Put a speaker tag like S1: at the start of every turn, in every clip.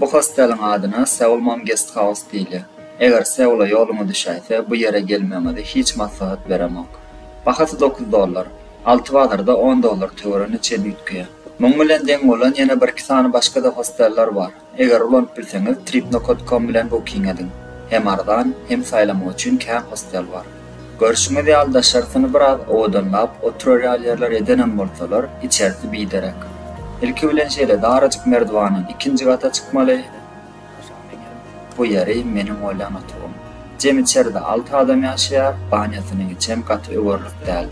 S1: Bu hosteliň adyna Seoul Mom Guest House diýilýär. Eger Seula ýoluňyz düşäýse, bu ýere gelmegiňizi hiç maslahat beremok. Bahasy dokuz dollar. Alty bazarda on dollar töweregine çen üýtgeýär. Muň bilen deň bolan ýene birki sany başga-da hosteller bar. Eger ulanyp bilseňiz Tripnokotcom bilen booking ediň. Hem arzan, hem saýlamak üçin kän hostel bar. Görşüňiz ýaly daşarysyny biraz owadanlap oturarýalýerler edenem bolsalar içerisi biderek. Ilki bilen şeýle darajyk merdiwandan ikinji gata çykmaly. Bu ýeri meniň oýlan otagym. Jem içeride alty adam ýaşaýar, banýasynyň içem gaty öwerlik däl.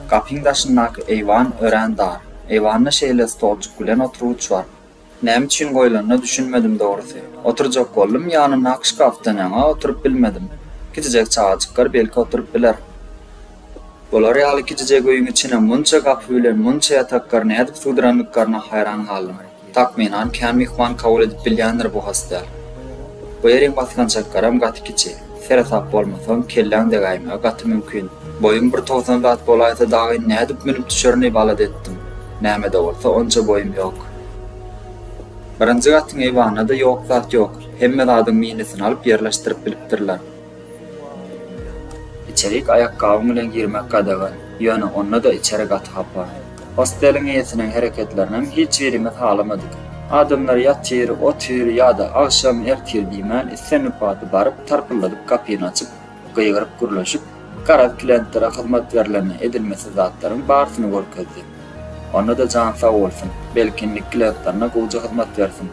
S1: Gapyň daşyndaky eýwan örän dar. Eýwanda şeýle stolçuk bilen oturgyç bar. Näme üçin goýlanyna düşünmedim dogrusy. Oturjak boldum, ýanyndaky şkafdan ýaňa oturyp bilmedim. Kiçijek çagajyklar belki oturyp biler. Bular ýaly kiçijek öýüň içine munça gapy bilen munça ýatakgary nädip sygdyrandyklaryna haýran galdym. Takmynan kän myhman kabul edip bilýändir bu hostel. Bu ýeriň basgançaklaram gaty kiçi. Seresap bolmasaň, kelläň degäýmegi gaty mümkin. Boýum bir togsan zat bolaýsa dagy nädip münüp düşerini balat etdim. Nämede bolsa onça boýum ýok. Birinji gatyň eýwanynada ýok zat ýok. Hemme zadyň minisini alyp ýerleşdirip bilipdirler. Içerik aýakgabyň bilen girmek gadagan, ýöne onda-da içeri gaty hapa. Hosteliň eýesiniň hereketlerinem hiç birimiz halamadyk. Adamlar ýatyr, otyr ýa-da agşam, ertir diýmän islendik wagty baryp, tarpyldadyp gapyny açyp, gygyryp gürleşip, garaz klientlere hyzmat berilende edilmesi zatlaryň barsyny görkezdi. Onda-da jan sag bolsun, belki indik klientlerine gowja hyzmat bersin.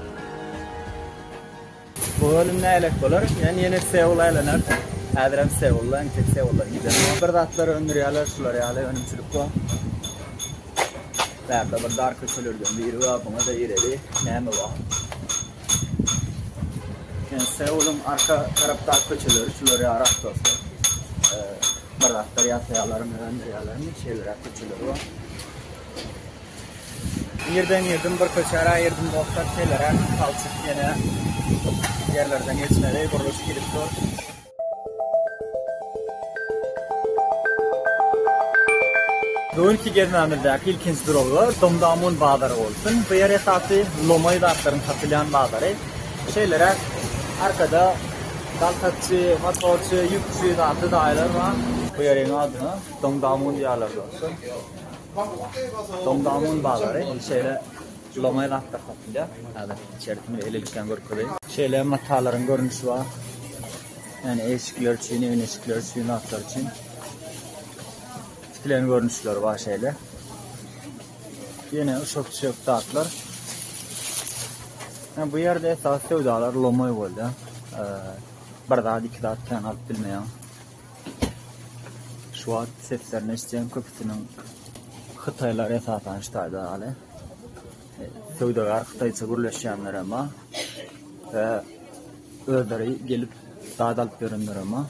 S1: Bu bölüm nälet bolar? Men ýene Seula aýlanar. Häzirem Seula, entek Seula gidýän. Bir zatlar öndürýärler, şular ýaly önümçilik bu. Bärde bir dar köçelerden biri bar, buňa-da gireli. Näme bu? Yani Seul'un arka taraftar köçeleri şular ya Arap dostu. Ee, Baraklar ya sayalarım, öndür yalarım, şeyler ya köçeleri var. Birden girdim bir köçara girdim dostlar şeýlere palçyk ýene ýerlerden geçmeli gurluş gidip dur. Bugünki gezmämizdäki ilkinji duralga Domdamun bazary bolsun. Bu ýer esasy lomaý zatlaryň satylýan bazary. Şeýlere arkada daltakçy, motorçy, ýükçi, zatly daýylar bar. Bu ýeriň adyna Domdamun diýýärler dostlar. Domdamuň bazary şeýle loňaý zatlar satylýar. Häzir içerisini elelikgän görkezeýin. Şeýle matalaryň görnüşi bar. Ýagny eşikler üçin, öýüň eşikleri üçin, zatlar üçin. Tikilen görnüşleri bar şeýle. Ýene uşak-çuşak zatlar. Yani bu yerde esas sevdalar lomoy bolýar. Bir zat, iki zat kän alyp bilmeýär. Şu wagt seslerini eşitýän köpüsiniň hytaýlar esasan şu taýda ýaly. E, Söwdagär hytaýça gürleşýänler emma we özleri gelip dad alyp ýörenler emma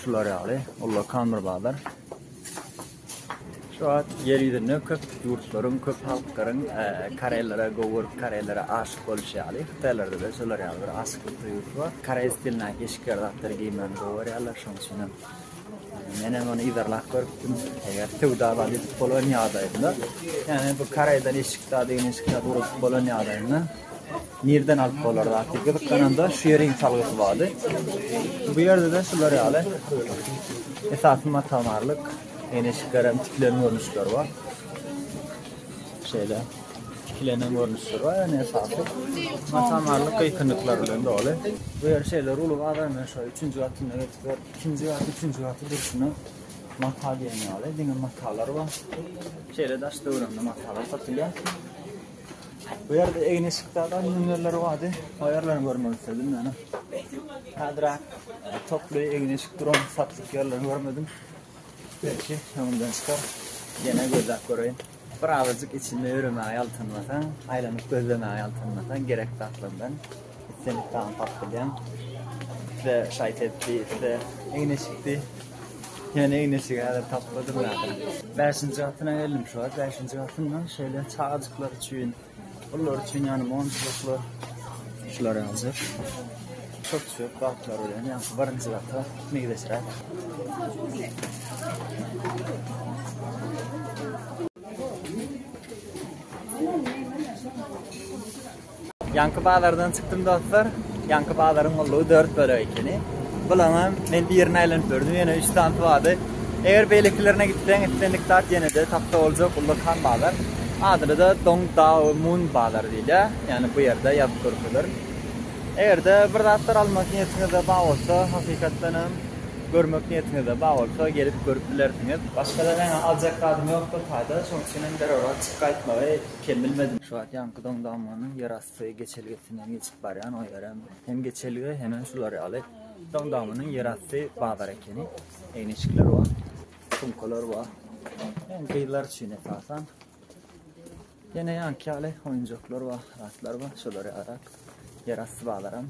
S1: şular ýaly. Ullakan bir bazar. Şu wagt ýer ýüzünde köp ýurtlaryň, köp halklaryň koreýlere gowy görüp, koreýlere aşyk boluşy ýaly, hytaýlarda-da şolar ýaly bir aşyklyk duýgusy bar. Koreý stilindäki eşikler zatlary geýmegini gowy görýärler. Şonuň üçin hem men hem ony yzarlap görüpdim. Eger söwda zady ýitip bolan ýagdaýynda, ýagny bu koreýden eşik zady, eşik zady gurap bolan ýagdaýynda, Nireden alyp bolar zat diýip gyzyklananda şu ýeriň salgysy bardy. Bu ýerde-de şular ýaly esasy mata-marlyk, eýneşiklerem tikilen görnüşler bar. Şeýle tikilenen görnüşler bar, ýöne esasy mata-marlyk gyýkynlyklar bilen doly. Bu ýer şeýle ruly bazar bilen şo üçünji gatynda geçipdir. Ikinji gat, üçünji gaty durşuna mata diýen ýaly diňe matalar bar. Şeýle daş döwrüňde matalar satylýar. Bu ýerde egin-eşikde adam nümerleri bardy. O ýerlerini görmek istedim ýöne. Häzir toply egin-eşik duran satlyk ýerlerini görmedim. Belki öňümden çykar. Ýene gözläp göreýin. Bir azajyk içinde ýöremäge ýaltanmasaň, aýlanyp gözlemäge ýaltanmasaň gerek zatlardan Islendik tagamy taýyp edýän. Isle şaýt etdi, isle egneşikdi. Ýöne egneşigi häzir tapmadym ýaly. Bäşinji gatyna geldim şu wagt. Bäşinji gatynda şeýle çagajyklar üçin, olar üçin ýagny monçulyklar, şular ýaly. Köp söz bagtlar bilen ýa birinji gata meýleşräk. Ýaňky bazardan çykdym dostlar. Ýaňky bazaryň ullugy 4 bölek ekeni. Bulaňam men birini aýlanyp gördüm, ýene 3 sany tuwady. Eger beýlekilerine gitseň, islendik zat ýene-de tapsa boljak uly kan bazar. Adyna da Dong Dao Mun bazar diýilýär. Ýani bu ýerde ýazyp durupdyr. Eger-de bir zatlar almak niýetiňizde bar bolsa, hakykatdan hem görmek niýetiňizde bar bolsa, gelip görüp bilersiňiz. Başga-da men aljak zadym ýokdur taýda, şonuň üçin hem zerurlygy çykyp gaýtmagy Kem bilmedim. Şu wagt ýaňky doňdamanyň ýerasty geçelgesinden geçip barýan, o ýerem hem geçelge, hemem şular ýaly doňdamanyň ýerasty bazar ekeni. Eýneşikler bar, sumkalar bar. Hem gyzlar üçin esasan. Ýene ýaňky ýaly oýunjaklar bar, zatlar bar, şolar ýaly ýerasty bazaram.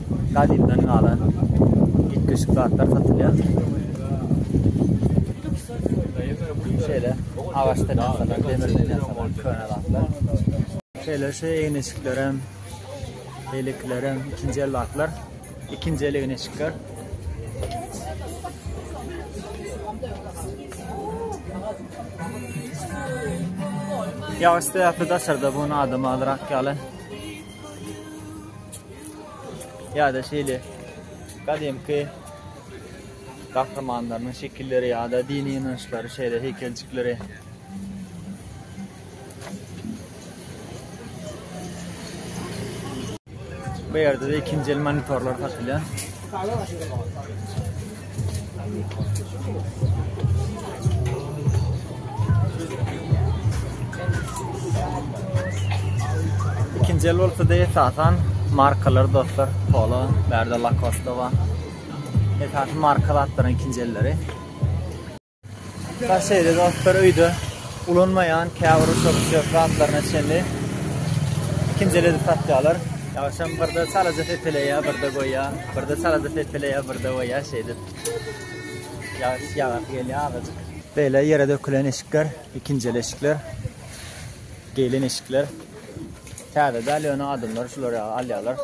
S1: gadymdan galan ýitgeşik zatlar satylýar. Şeýle agaçdan ýasalan, demirden ýasalan köne zatlar. Şeýle şu egin-eşiklerem, beýlekilerem ikinji el zatlar. Ikinji el egin-eşikler. Ýagyş sebäpli daşarda bu adam azrak ýaly. ýa-da şeýle gadymky gahrymanlarynyň şekilleri ýa-da dini ynançlary şeýle heýkeljikleri Bu ýerde-de ikinji el monitorlar satylýar. Ikinci el bolsa da esasan markalar dostlar. Polo, berde Lacoste var. Esasen marka zatların ikinci elleri. Şeýle dostlar öýde ulanmaýan käbir uçak-uçak zatlaryna çenli ikinji el edip satýarlar. Ýagşam birde çalaja sepeleýär, birde goýýar, birde çalaja sepeleýär, birde goýýar şeýdip. Ýagyş ýagasy gelýär azajyk. Beýle ýere dökülen eşikler, ikinji el eşikler, geýlen eşikler. Täze däl ýöne adamlar şulary alýarlar.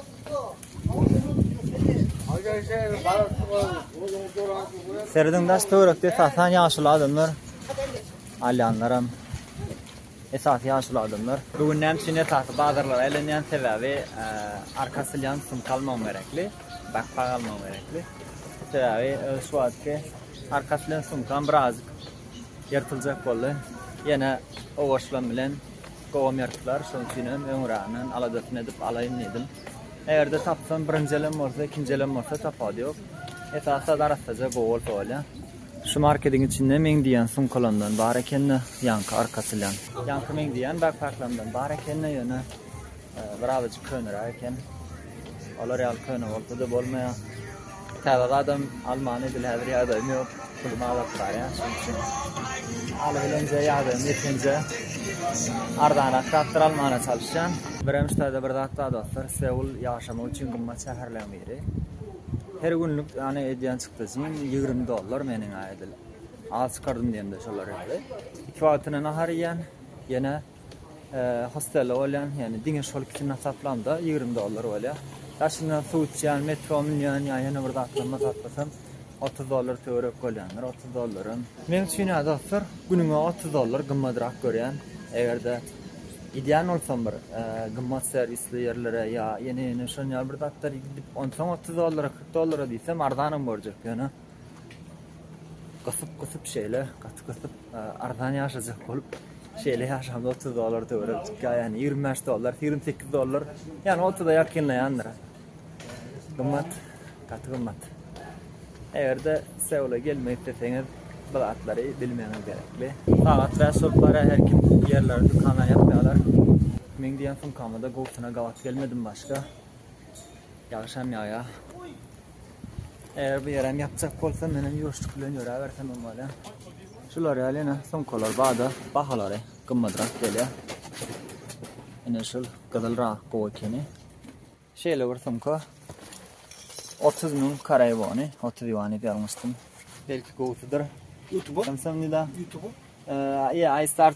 S1: Serediň daş töwerekde esasan ýaşuly adamlar, alýanlaram esasy ýaşuly adamlar. Bu gün näme üçin esasy bazarlara aýlanýan sebäbi e, arka asylýan sumka almagym gerekli, bakpak almagym gerekli. Sebäbi e, şu wagtky arka asylýan sumkam birazjyk ýyrtyljak boldy. Ýene owaşlan bilen Gowamertler, şoň üçinem öňüränden aladasyny edip alaýyn diýdim. Eger-de tapsam, birinjelem bolsa, ikinjelem bolsa, tapawudy ýok. Esasy-da arassaja gowy bolsa bolýar. Şu markediň içinde meň diýýän sumkalamdan bar eken-de, ýaňky arka asylýan. Ýaňky meň diýýän bäkpäklamdan bar eken-de, ýöne birazajyk köneräk eken. Olar ýaly köne bolsa-da bolmaýar. Täze gadam almany bil häzir ýagdaýym ýok. Pulum azalp barýar. Şonuň üçin haly bilenje ýagdaýym ýeteniçe arzanak zatlar almana çalyşýan. Birem ştaýda bir zat bar dostlar. Seul ýaşamak üçin gymmat şäherleň biri. Her günlük ýany edýän çykdajym ýigrimi dollar meniň-ä edil. Az çykardym diýemde şolar ýaly. Iki wagtyna nahar iýýän, ýene Hostelde bolýan, ýagny diňe şol ikisini hasaplanda ýigrimi dollar bolýar. Daşyndan suw içýän, metro münýän ýa ýene bir zatlar mazatlysam otuz dollar töwerek bolýandyr, otuz dollaram. Meň üçin ýa dostlar, günüňe otuz dollar gymmadrak görýän. Eger-de gidýän bolsam bir gymmat serwisli ýerlere ýa ýene-ýene şonuň ýaly bir zatlar gidip, onsoň otuz dollara, kyrk dollara diýsem arzanam görjek ýöne. Gysyp gysyp şeýle gaty gysyp arzan ýaşajak bolup şeýle ýaşamda otuz dollar töwerek çykýar ýaly ýigrimi bäş dollar ýigrimi sekiz dollar ýaly otuza ýakynlaýandyr gymmat gaty gymmat egerde seula gelmek isleseňiz bu zatlary bilmegiňiz gerekli sagat bäş bolup barýar her kim ýerleri dükanlary ýapýarlar meň diýen sumkamda gowusyna gabat gelmedim başga ýagyşam ýagýar Eger bu ýerem ýapjak bolsa, menem ýuwaşlyk bilen ýöräbersem hem bolýar. Şular ýaly ýene sumkalar bada bahalary gymmatrak gelýär. Ine şul gyzyl rak gowy ekeni. Şeýle bir sumka 30 müň koreý wony, 30 ýuan diýip ýazmyşdym. Belki gowusydyr. YouTube. Samsung
S2: nida.
S1: YouTube.
S2: Eee, yeah, I
S1: start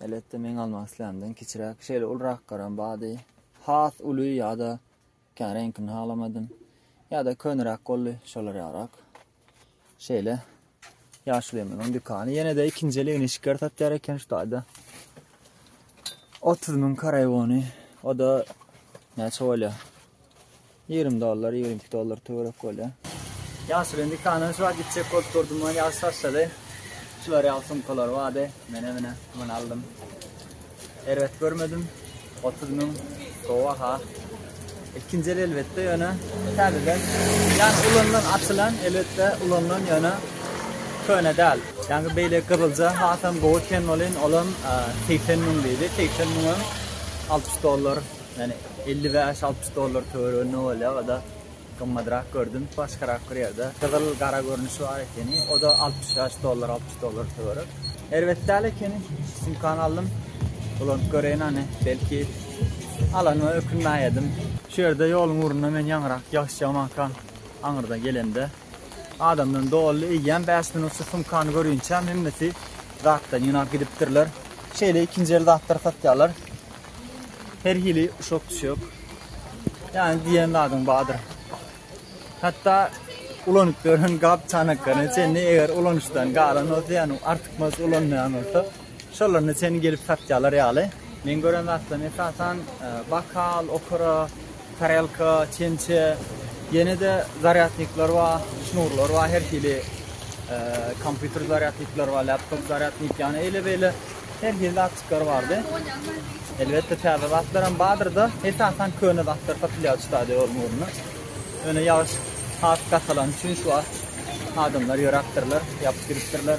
S1: Elbetde meň almak islämden kiçiräk, şeýle ulrakgaram bardy. Has uly ýa-da kän reňkini halamadym. Ýa-da köneräk boldy, şolar ýarak. Şeýle ýaşulymyzyň dükany ýene-de ikinji eligini şikar satýar eken şu taýda. 30 müň karaýgony, o da näçe bolýar? Ýigrimi dollar, ýigrimi iki dollar töwerek bolýar. Ýaşuly indi kanalçy bak gitjek bolup durdum ony ýaşy taşlady. Şular ýaly sumkalary bardy. Mene mine muny aldym. Erbet görmedim. Otuz müň gowy baha. Ikinji el elbetde ýöne täzeden ýa ulanylan açylan elbetde ulanylan ýöne köne däl. Ýa-da beýle gyzylja hasam gowy eken welin olam segsen müň diýdi. Segsen müň hem alty ýüz dollar. Ýani elli bäş altmyş dollar töwereginde bolýar oda gymmadrak gördüm başgarak bir ýerde gyzyl gara görnüşi bar ekeni oda altmyş bäş dollar altmyş dollar töwerek erbet däl ekeni sumkany aldym ulanyp göreýin hany belki alanyma ökünmän ýedim şu ýerde ýoluň ugrunda men ýaňyrak ýaşýamaka aňyrda gelemde adamdan doldy eýýäm bäş minut şu sumkany görünçäm hemmesi zatdan ýygnap gidipdirler şeýle ikinji el zatlar satýarlar Her hili uşak düşek. Yani diyen zadyň badyr. Hatta ulanyp gören gap çanaklaryny çenli eger ulanışdan galan olsa yani artık mas ulanmayan olsa şolaryny çenli gelip satýarlar ýaly. Men gören zatlaryny esasan e, bakal, okara, Tarelka, çemçe, ýene-de zarýadnikler bar, şnurlar bar, her hili kompýuter zarýadnikler bar, laptop zarýadnik, ýagny eýle-beýle her hili zatçyklar bardy. Elbetde täze zatlar hem bardyr-da, esasan köne zatlar satylýar şu stadionyň öňünde. Ýöne ýagyş has gatalany üçin şu wagt adamlar ýöräpdirler, ýapyp ýörüpdirler.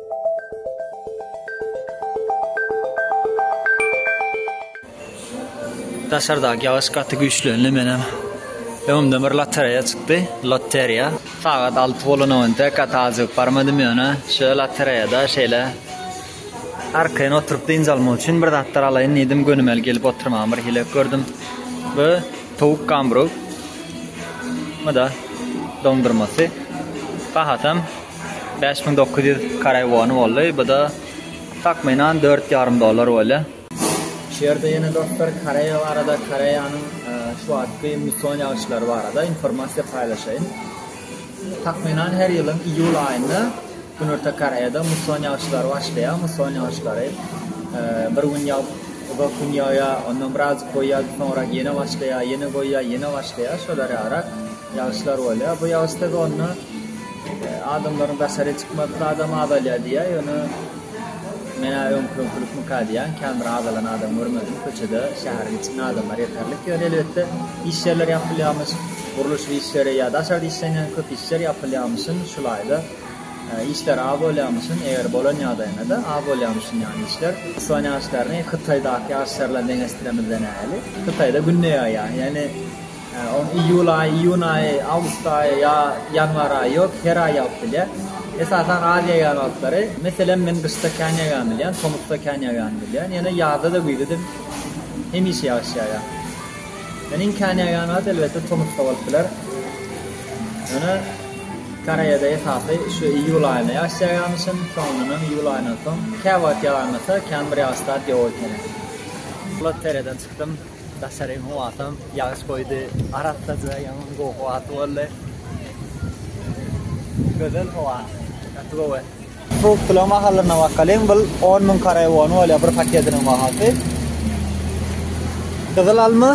S3: Daşardaky ýagyş gaty güýçlendi menem. Öňümden bir lotereýa çykdy, loteriýa. Sagat 6 bolanowynda gaty aljygyp barmadym ýöne şo lotereýada şeýle arkaýyn oturyp dynç almak üçin bir zatlar alaýyn diýdim, gönümel gelip oturmagyň bir hile gördüm. Bu towuk gamburg. Bu da doňdurmasy. Bahasam Bäş müň dokuz ýüz koreý wony boldy, bu-da takmynan dört ýarym dollar bolýar. Şu ýerde ýene dostlar Koreýa barada, Koreýanyň şu wagtky musson ýagyşlary barada informasiýa paýlaşaýyn. Takmynan her ýylyň iýul aýynda Günorta Koreýada musson ýagyşlary başlaýar. Musson ýagyşlary bir gün ýagyp, uzak gün ýagýar, ondan birazajyk goýýar, soňrak ýene başlaýar, ýene goýýar, ýene başlaýar, şolar ýalyrak. Ýagyşlar bolýar. Bu ýagyş sezonynda adamlaryň daşaryk çykmagy sadam azalýar diýýär. Ýöne men-ä öňküňkülikmika diýýän, kän bir azalan adam görmedim. Köçede, şäheriň içinde adamlar ýeterlik. Ýöne elbetde, iş ýerleri ýapylýarmyş, gurluşyk işleri ýa daşarda işlenýän köp işler ýapylýarmyşyn. Şu laýda işler az bolýarmyşyn. Eger bolan ýagdaýynda-da az bolýarmyşyn ýany işler. Ispan ýagyşlaryny Hytaýdaky ýagyşlar bilen deňeşdiremizden-ä hili. Hytaýda günde ýaýýar. Ýöne. Onuň iýul aýy, iýun aýy, awgust aýy ýa ýanwar aýy ýok, her aý ýagyp bilýär. Esasan Aziýa ýagylyklary, meselem, men gyşda kän ýagýany bilýän, tomusda kän ýagýany bilýän, ýöne ýazda-da, güýzde-de hemişe ýagyş ýagýar. Ýöne iň kän ýagýan wagty, elbetde, tomusda bolup biler. Ýöne Koreýada esasy şu iýul aýynda ýagyş ýagýarmyşyn, soňundan hem iýul aýyndan soň, käwagt ýagarmasa, kän bir ýagyş zat ýok ekeni. Loterýadan çykdym. Daşary howatam ýagyş goýdy. Arassa jaý ýaňam gowy howasy boldy. Gözel howa. Gaty gowy. Frukt pulagyň bahalyna bakalyň. Bul on müň karaý wony bolýar bir paketiniň bahasy. Gyzyl alma,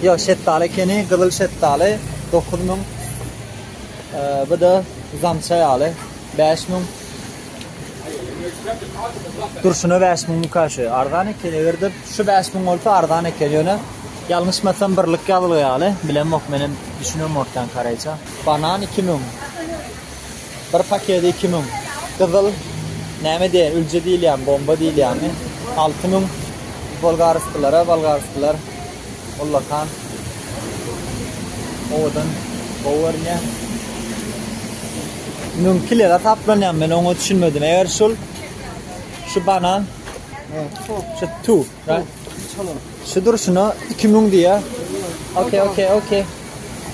S3: ýok şetdaly ekeni, gyzyl şetdaly dokuz müň. Bu-da zamça ýaly bäş müň. Durşuna bäş müň müka şu. Arzan eken eger-de şu bäş müň bolsa arzan eken ýöne ýalňyşmasam birlik ýazylgy ýaly. Bilemok men hem düşünemok kän koreýçe. Banan iki müň. Bir pakedi iki müň. Gyzyl näme diýen ülje diýilýämi bomba diýilýämi alty müň. Bolgaryslylara bolgaryslylar. Ullakan owadan gowy görünýär. Müň kilega taplanýan men oňa düşünmedim. Eger şul şu banan şu tu şu durşuna 2000 diýä. Okey, okey, okey.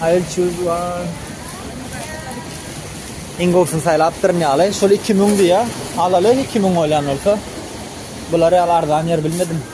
S3: I will choose one. Iň gowusyny saýlapdyryn ýaly. Şol 2000 diýä. Alaly 2000 bolýan bolsa. Bular ýaly arzan ýer bilmedim.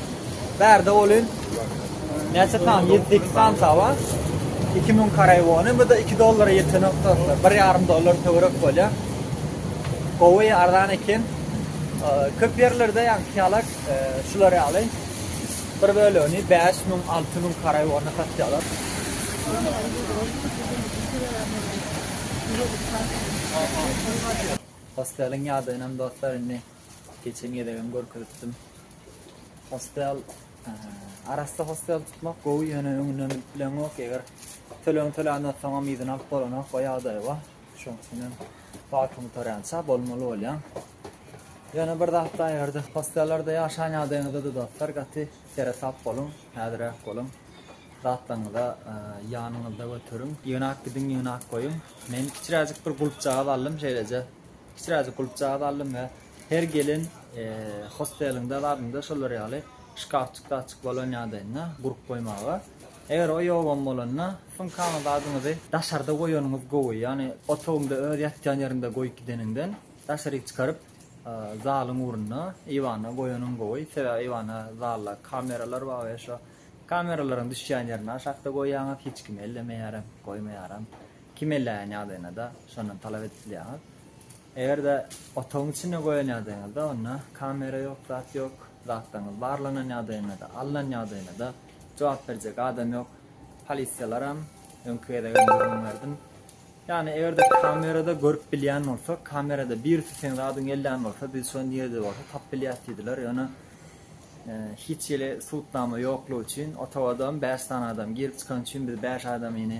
S3: Bärde bolyn. Näçe san? 7-2 san saba. 2000 karay wony, bu da 2 dollara ýeten noktasy. 1,5 dollar töwerek bolýa. Gowy, arzan eken. Köp ýerlerde ýa kiýalak e, şular ýaly. Bir bölegini 5000, 6000 karay wony satýarlar. Hosteliň ýadaýynam dostlar indi Geçen gezegem görkezipdim. Hostel arassa hostel tutmak gowy ýöne öňünden bileňok eger töleg töländen soňam yzyny alyp bolanok o ýagdaý bar. Şoň üçin hem wagtyny töräýse bolmaly bolýar. Ýöne bir zat da ýerde hostellerde ýaşan ýagdaýyňyzda da dostlar gaty seresap boluň, häzirek boluň. Zatlaryňyza e, ýanyňyzda göteriň. Ýygnak gidiň, ýygnak goýuň. Men kiçiräjik bir gulpjagaz aldym, şeýleje Kiçiräjik gulpjagaz aldym we her gelen hosteliňde zadynda şolar ýaly şkafçyk-zadçyk bolan ýadynda gurup goýmaga. Eger o ýogam bolanda, sumkaňyz zadyňyzy daşarda goýanyňyz gowy. Ýagny otagyňda öz ýatýan ýeriňde goýup gideniňden, daşaryk çykaryp zalyň ugrunda, eýwanda goýanyň gowy. Sebäbi eýwanda, zalda kameralar bar we şo kameralaryň düşýän ýerini aşakda goýýaňyz, hiç kim ellemeýärem, goýmaýaram. Kim elleýän ýagdaýynda-da şondan talap edip bilýäňiz. Eger-de otagyň içinde goýan ýagdaýyňyzda, onda kamera ýok, zat ýok. Zatlaryňyz barlanan ýagdaýynda-da, alnan ýagdaýynda-da jogap berjek adam ýok. Polisiýalaram, öňki gezegem gürrüň berdim. Ýagny eger-de kamerada görüp bilýän bolsak, kamerada birisi seň zadyňy elleýän bolsa, biz şony nirede bolsa tapyp bilýäs diýdiler. Ýöne hiç hili subutnama ýoklugy üçin, otagadam bäş sany adam girip çykan üçin biz bäş adamyny